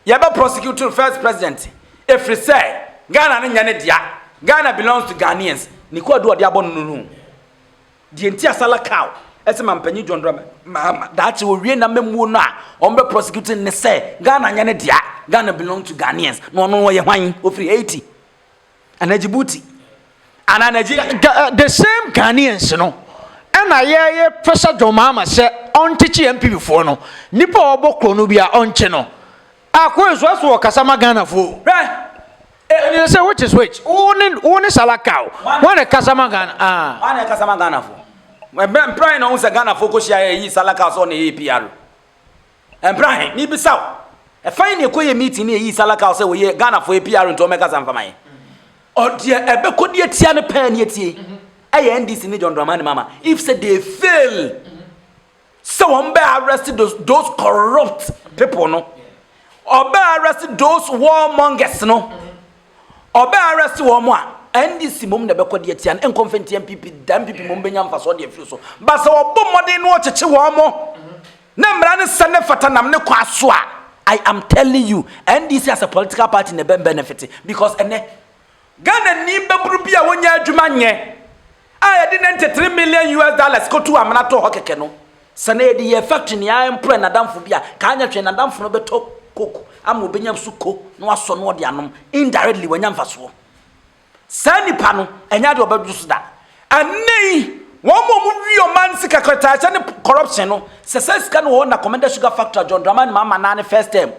yɛbɛ prosecute no first president ɛfiri sɛ Ghana no nyɛ ne dea, Ghana belongs to Ghanaians. Ne kwaadu a ɔde abɔ no no no, deɛ nti a Salah Cow ɛse Mampanyin John Dramani Mahama daakye ɔwie n'amammuo no a wɔbɛ prosecute no ne sɛ Ghana nyɛ ne dea, Ghana belongs to Ghanaians. Na ɔno ɔyɛ hwan? Ɔfiri Haiti. anaa djibouti anaa nigeria the same ghanaians no ɛna yɛyɛ fɛsɛ john mahama sɛ ɔnkyekye npp foɔ no nipa a ɔbɔ korɔ no bi a ɔnkye no akɔ nso ɛso wɔ kasa ma ghana foɔ ɛne sɛ which is which wo ne wo ne salaka o wɔn ne kasa ma ghana ah wɔn ne kasa ma ghana foɔ ɛbɛn pran na wɔn sɛ ghana foɔ kɔ hyia yɛ yi salaka sɔ na ɛyɛ pr Ɛmpra he, mebisa wo, ɛfa he na yɛkɔyɛɛ meeting ne yɛyii Salakau sɛ ɔyɛ Ghanafoɔ yɛ PR nti ɔmmɛkasa mfa ma yɛn? Ɔ, deɛ ɛbɛkɔ de atia no paa ne atie yi, ɛyɛ NDC ne John Dramani Mahama, if sɛ they fail sɛ wɔbɛ arrest those, those corrupt people no, ɔbɛ arrest those warmongers no, ɔbɛ arrest wɔn a, NDC mmom na ɛbɛkɔ de atia no, ɛnkɔ mfa ntia MPP da, MPP mmom bɛnya mfasoɔ de afiri so, but sɛ wɔbɔ mmɔden na wɔkyekye wɔn mo, Na mmara no sɛ ne fata nam ne kwa so a, I am telling you, NDC as a political party na ɛbɛ benefit because ɛnɛ, Ghanani babunu bi a ɔnnya adwuma nyɛ a yɛde ninety three million US dollars kɔtuu amena tɔɔ hɔ kɛkɛ no, sɛ na yɛde yɛɛ factory na yɛaemploy n'adamfo bi a, ka anyɛ hwee n'adamfo no bɛtɔ coke ama ɔbɛnya suko na wasɔ na ɔde anom, indirectly wanya mfasoɔ. Saa nnipa no, ɛnyɛ ade ɔbɛdwo so da. Ɛnnɛ yi, wɔn mu a wɔwie ɔman sika kratahyɛ ne corruption no, sɛ saa sika no wɔ hɔ na Commenda Sugar Factory a John Dramani Mahama naa ne first term,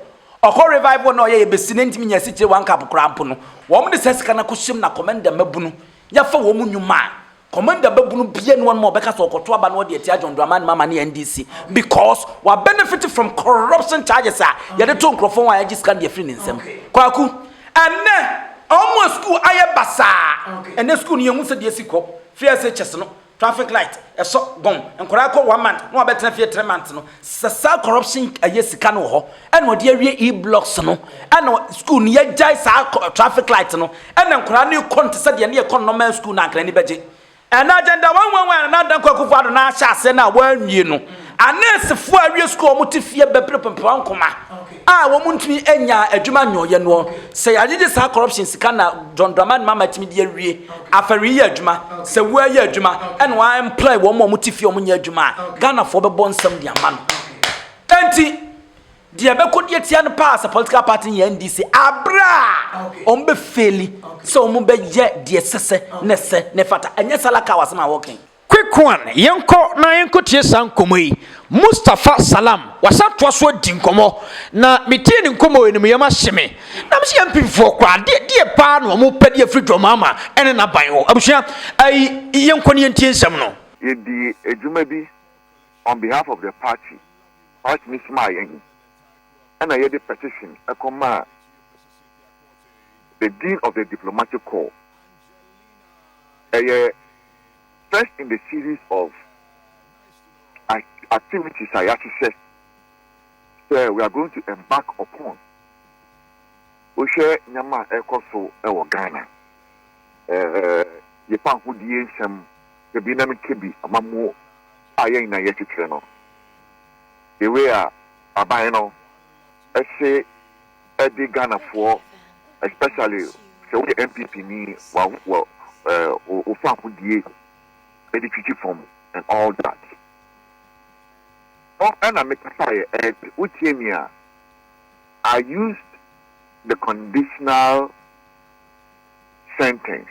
ɔkɔ revival na ɔyɛ yɛ besi na ntumi nya asikyire one cup koraa mpo no, wɔn de saa sika no akɔhyem na Commenda mmabunu yɛfa wɔn nnwuma a Commander babunu bia ni wɔnom a ɔbɛka sɛ ɔkɔto aba na ɔde atia John Dramani Mahama ne NDC because wa benefit from corruption charges a yɛde to nkorɔfoɔ ho a yɛagye sika no de afiri ne nsam. Kwaku, ɛnnɛ wɔn a school ayɛ basaa, ɛnnɛ school no yɛnhu sɛdeɛ ɛsi kɔ, firi ɛsɛ kyɛs no, traffic light, ɛsɔ, gɔn, nkwadaa kɔ one month na wɔabɛtena fie three months no, sɛ saa corruption ɛyɛ sika no wɔ hɔ, ɛna ɔde awie e blocks no ɛna school no yɛgyae saa traffic light no ɛna nkwadaa no kɔ no te sɛ deɛ ne yɛkɔ normal school no ankara ani bɛgye ɛna agenda wɔn wɔn wɔn na adanko akufo ado na ahyɛ aseɛ no a wɔanwie no aneesefoɔ a awie school wɔn te fie bɛpere pɛmpɛ wɔn nkoma a wɔn ntumi anya adwuma nyɔɔyɛ no sɛ yɛagyegye saa corruption sika na John Dramani Mahama tumi de awie afɛre yɛ adwuma sɛ wo ayɛ adwuma ɛna wɔn employ wɔn a wɔn te fie wɔn nyɛ adwuma a Ghanafoɔ bɛbɔ nsɛm de ama no. Ntsi, deɛ ɛbɛkɔ di atia no paa sɛ political party yɛ NDC aber a wɔbɛfeeli sɛ wɔbɛyɛ deɛ ɛsɛ sɛ na ɛsɛ na ɛfata. Ɛnyɛ Salakaw asɛm a wɔreka yi. Kwekuan, yɛnkɔ na yɛnkɔtie saa nkɔmmɔ yi. Mustapha Salam, wasan toa so adi nkɔmmɔ, na metie ne nkɔmmɔ yi no, me yam ahye me. Na mese yɛn mpemfoɔ koraa, deɛ deɛ paa na wɔpɛ de afiri Dwamama ne n'aban hɔ? Abusua, ɛyi, yɛnkɔ na yɛntie nsɛm no. Yɛdii adwuma bi on behalf of the party, party no somaa yɛn ɛna yɛde petition ɛkɔ maa the dean of the diplomatic corps. Ɛyɛ first in the series of activities a yɛahyehyɛ sɛ we are going to embark upon. Wohwɛ nneɛma a ɛkɔ so ɛwɔ Ghana, ɛɛ yɛpa ahodie nsɛm, Dabi na metwa bi ama mo a yɛn nyinaa yɛ kyekyere no the way a aban no se de Ghanafoɔ especially sɛ woyɛ NPP ni wa wa eh, wo fahodie de twitwi fam and all that no ɛna mekasaeɛ ɛt wotie mi a I used the conditional sentence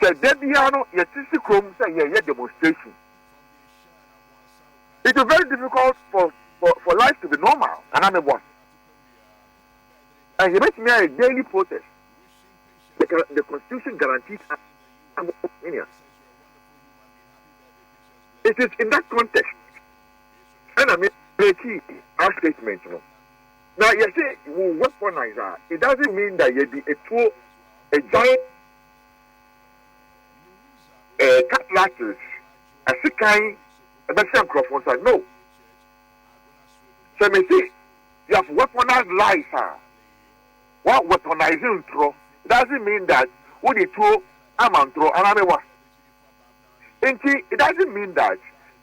sɛ da biara no yɛsisi kurom sɛ yɛyɛ demonstration it will very difficult for for for life to be normal ana ne boa and yɛbɛtumi ayɛ daily protest the, the constitution guarantees us opinion it is in that context ɛna me breaking our statement no. Na yɛse wo weaponize a, it doesn't mean that yɛde atuo agyan eh, cutlasses, asekan ɛbɛhyɛ nkurɔfoɔ nsa. No. Sɛ mese you have weaponized lies a, wa weaponize ntorɔ. It doesn't mean that wode tuo ama ntorɔ, anaa mewa. Nti, it doesn't mean that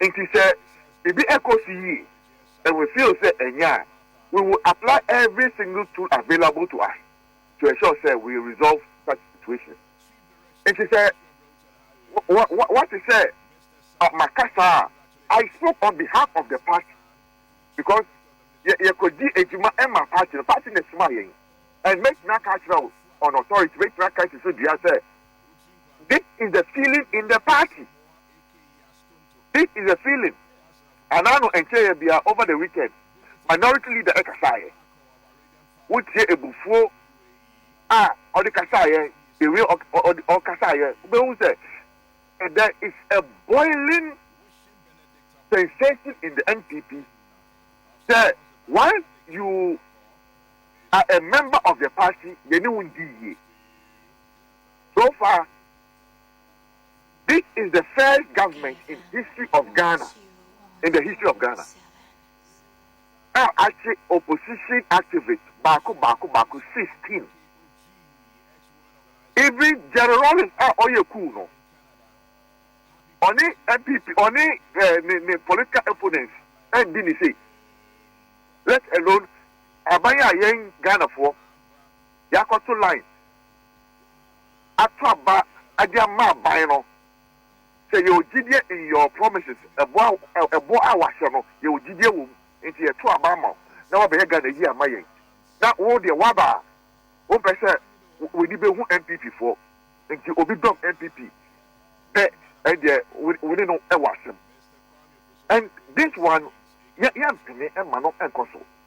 Nti sɛ biribi ɛkɔ so yie and we feel sɛ ɛnyɛ a, we will apply every single tool available to us to ensure sɛ we resolve such situations. Nti sɛ woate sɛ maka saa a, I spoke on behalf of the party because yɛkɔdi adwuma ma party no, party na ɛsomaa yɛn and mɛtumi aka akyerɛ wo on authority, mɛtumi aka si so dua sɛ this is the feeling in the party this is the feeling anaa no ɛnkyerɛ yɛ bia over the weekend minority leader ɛkasaa yɛ wotie ebufuo a ɔde kasaa yɛ the way ɔkasaa yɛ wobɛhu sɛ there is a boiling sensation in the NPP sɛ once you are a member of the party yɛne wo ndi yie So far, this is the first government in history of Ghana, in the history of Ghana, a akye opposition activists baako baako baako 16. Even Jerry Rawlings a ɔyɛ cool no, ɔne NPP, ɔne eh, ne ne political opponents ɛndi ne sei. Let alone aban a yɛn Ghanafoɔ Yɛakɔto lines ato aba de ama aban no. Sɛ yɛwɔ gyidie in your promises, ɛbɔ a ɛbɔ a wahyɛ no yɛwɔ gyidie wɔ mu nti yɛto aba ama wo na wabɛyɛ Ghana yie ama yɛn. Na wo deɛ waba a wompɛ sɛ w'ani bɛhu NPP foɔ nti obi dɔm NPP pɛ ɛndeɛ wo ne no wɔ asɛm and this one yɛmpene mma no nkɔ so.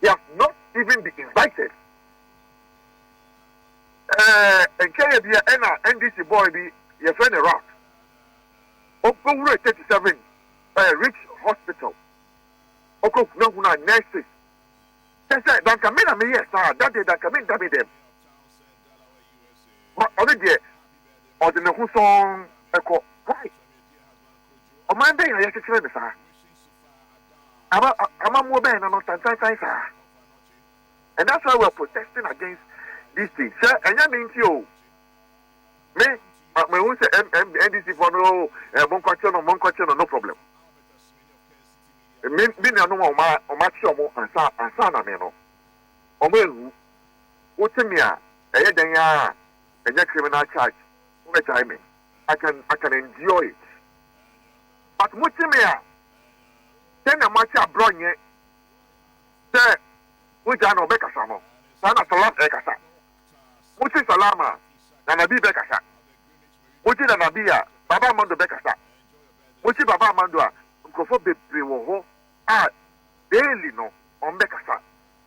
they have not even been invited ɛɛ eh, nkyɛyɛ bi a ɛna ndc boy bi yɛfrɛ no rat ɔkɔwura 37 ɛɛ eh, rich hospital ɔkɔhunahuna nurses kyɛ sɛ danka me na meyɛ saa dadeɛ danka me ndame dɛm ma ɔno deɛ ɔde ne ho sɔn ɛkɔ why ɔman bɛyɛ a yɛkyekyerɛ ne saa Aba amammuo bɛn na no tantantan saa? And that's why we are protesting against this thing. Sɛ ɛnyɛ me nti o, me mehu sɛ NDC fɔ no o, eh, monkɔkye no, monkɔkye no, no problem. Me me nuanom a ɔma ɔmakye ɔmo ansa ansa na me no, ɔmo ehu. Wote me a, ɛyɛ dɛn a, ɛnyɛ criminal charge, wobɛgyae me. I can, I can endure it. But mo gye me a dɛn na mo ate abrɔ nyɛ sɛ mo gya na ɔbɛ kasa no saa na salam ɛkasa mo gye salam a nana bi bɛ kasa mo gye nana bi a baba amando bɛ kasa mo gye baba amando a nkurɔfoɔ bebree wɔ hɔ a daily no ɔmbɛ kasa.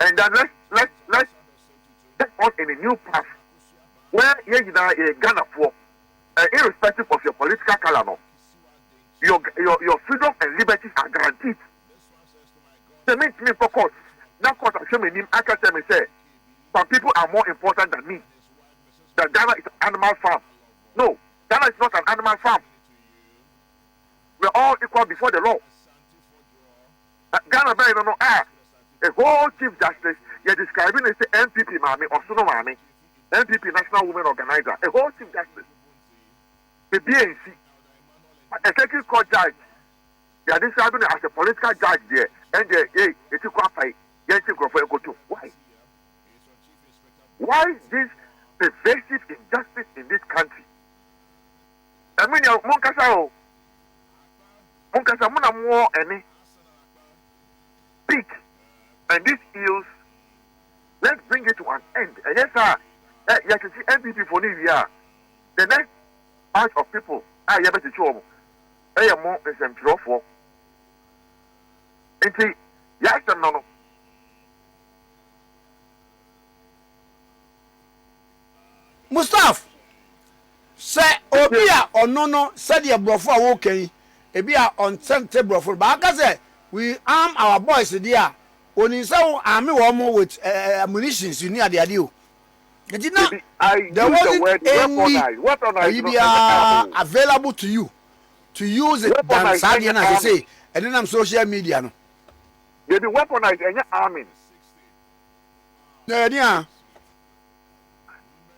And that let's let's let's get on in a new path where yɛn nyinaa yɛyɛ Ghanafoɔ uh, irrespective of your political color no your your your freedom and liberties are guaranteed. Sɛ mi ntumi nkɔ court na court ahwɛ mi anim aka kyerɛ mi sɛ some people are more important than me that Ghana is an animal farm no Ghana is not an animal farm we are all equal before the law. Ghana bɛn no no ah a whole chief justice yɛ describe ne sɛ NPP maame ɔsono maame NPP national women organizer a whole chief justice bebie nsi a circuit court judge yɛ describe ne as a political judge deɛ ɛndeɛ yɛ yɛti kɔ apae yɛnkye nkurɔfoɔ yɛnkɔto why why this pervasive injustice in this country ɛmi nea mo nkasa o. Monkasa mo na moɔ ɛne. Speak and this ills let's bring it to an end ɛnyɛ saa a yɛkyekye NPP foɔ no wie a the next batch of people a yɛbɛkyekye wɔn ɛyɛ mo nsɛmtwerɛfoɔ nti yɛasɛm no no Mustaf, sɛ obi a ɔno no sɛdeɛ borɔfo a woka yi ebi a ɔnsɛ nte borɔfo no baaka sɛ we arm our boys deɛ a onim sɛ wo arme wɔn mo with uh, eh, ammunitions eh, ni adeade o nti na there wasn't any ayi biara available to you to use it than saa deɛ na sese ɛnenam social media no. Baby weaponized ɛnyɛ arming. Na ɛdeɛ a.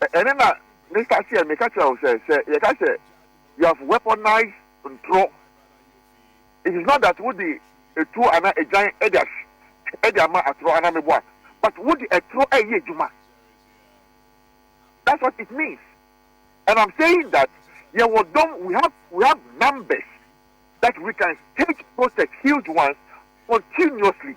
Ɛno na me starteɛ no meka kyerɛ wo sɛ sɛ yɛka sɛ you have weaponized ntorɔ it is not that wode etuo anaa egyan de ahwe de ama atorɔ anaa meboa but wode ɛtorɔ ɛyɛ adwuma that's what it means and I'm saying that yɛwɔ dɔm we have we have numbers that we can stage protest huge ones continuously.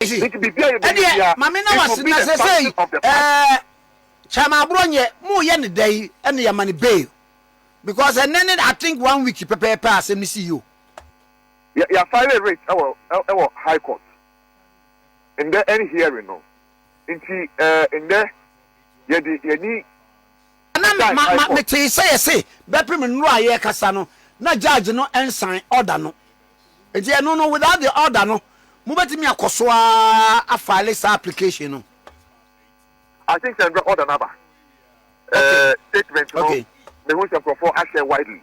ɛdeɛ mame na wase na sɛ sɛ yi ɛɛ kyama aborɔ nyɛ mo yɛ ne dɛ yi ɛne yɛ ma ne bail because ɛnɛ ne i think one week pɛpɛɛpɛ asɛm ne si yi o. yɛafile rate ɛwɔ ɛwɔ high court ndɛ ɛne hearing no nti ɛɛ ndɛ yɛde yɛni. Na me ma ma me tee sɛ yɛse bɛpem nnuro a yɛkasa no na judge no nsan order no nti ɛno no without the order no mobɛtumi akɔso ara afile saa application no. I think sɛ ndra order no aba ɛɛ statement no mehu sɛ nkurɔfoɔ ahyɛ widely.